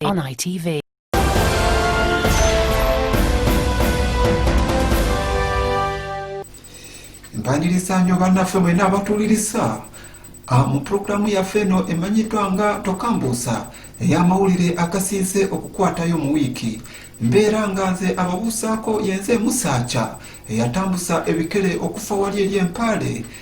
On ITV. mpaniriza nyo bannaffe mwena abatuwuliriza ah, mu pulogulaamu yaffe eno emanyiddwa nga tokambuusa ey'amawulire agasinze okukwatayo mu wiiki mbeera nga nze ababuusaako yenze musaaca eyatambusa ebikere okufa wali eri empaale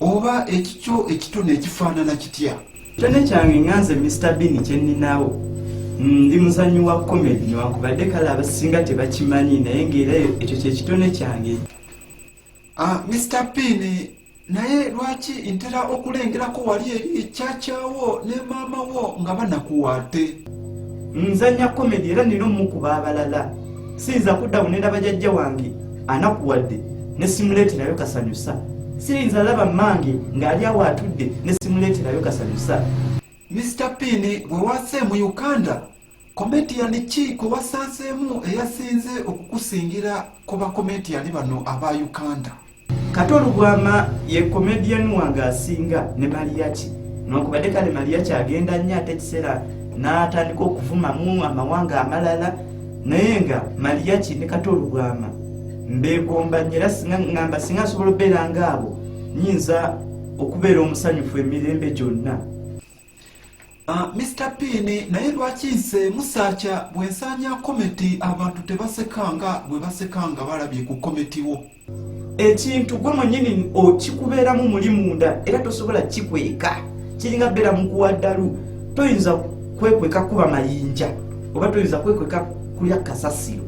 oba ekikyo ekitone ekifaanana kitya kyone kyange nga nze mr bini kyeninawo mm, ndi muzanyi wa komedi newankubadde kale abasinga tebakimanyi naye ngaera ekyo kyekitone kyange ah, mr bini naye lwaki ntera okulengerako wali eri ekyakyawo ne maama wo nga banakuwaate nzanya komedi era nina omukuba abalala siyinza kudda bunera bajajja wange anakuwadde nesimuleeterayo kasanyusa siyinza laba mmange ng'ali awo atudde nesimuleeterayo kasanyusa mr pini bwewase mu uganda kometiyani ki kwe wasanzeemu eyasinze okukusingira ku bakometiyani bano aba uganda Kato Lubwama ye comedian wange asinga ne Mariachi nokubadde kale Mariachi agenda nnyo ate ekiseera n'atandika okuvumamu amawanga amalala naye nga Mariachi ne Kato Lubwama mbeegomba nnyo era ngamba singa nsobola obeera ngaabo nyinza okubeera omusanyufu emirembe gyonna. Ah, Mr Pini naye lwaki nse musakya bwensanya kometi abantu tebasekanga bwebasekanga balabye ku kometi wo ekintu gwe mwenyini okikubeeramu muli munda era tosobola kikweka kiringa beera mukuwa ddalu toyinza kwekweka kuba mayinja oba toyinza kwekweka kulya kasasiro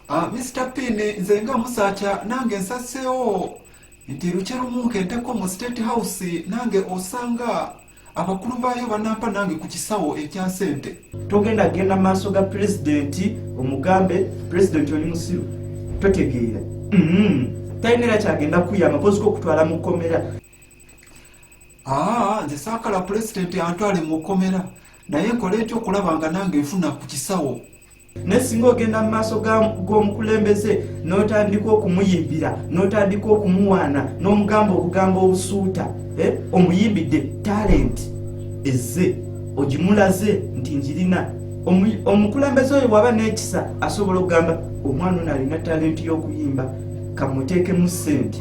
Ah, Mr. Pin nze nga musakya nange nsaseewo nti lukye lumu nkenteko mu state house nange osanga abakulu baayo banampa nange ku kisawo ekya sente togenda genda maaso ga pulezidenti omugambe pulezidenti oli musiru totegeera mm-hmm. talina era kyagenda kuyamba kozika okutwala mu kkomera ah, nze saakala pulezidenti antwale mu kkomera naye nkola etya okulaba nga nange nfuna ku kisawo naye singa ogenda mu maaso g'omukulembeze n'otandika okumuyimbira n'otandika okumuwaana n'omugamba obugambo obusuuta eh, omuyimbidde talenti ezze ogimulaze nti njirina omukulembeze oyo bwaba n'ekisa asobola okugamba omwana ono alina talenti y'okuyimba kamuteekemu ssente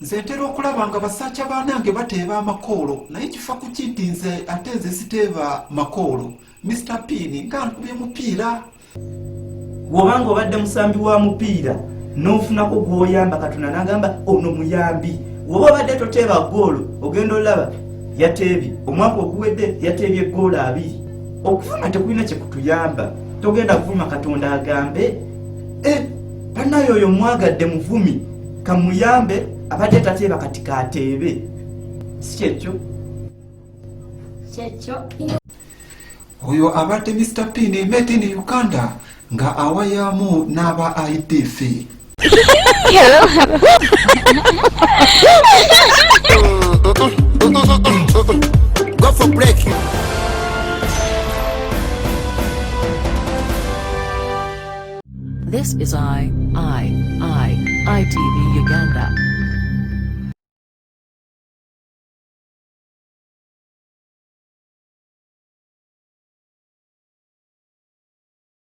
nze ntera okulaba nga basajja banange bateeba amakoolo naye kifa kuki nti nze ate nze siteeba makoolo mr pin nga nkubye mupiira woba nga obadde musambi wa mupiira nofunako gwoyamba katonda nagamba ono muyambi woba obadde toteeba goolo ogenda olaba yateebye omwaka oguwedde yateebye goolo abiri okuvuma tekulina kyekutuyamba togenda kuvuma katonda agambe eh, banaye oyo mwagadde muvumi kamuyambe abadde tateeba kati kateebe si kyekyo kyekyo oyo abadde mr pin made in uganda nga awayamu n'aba idf Go for breaking. This is I, I, I, ITV Uganda.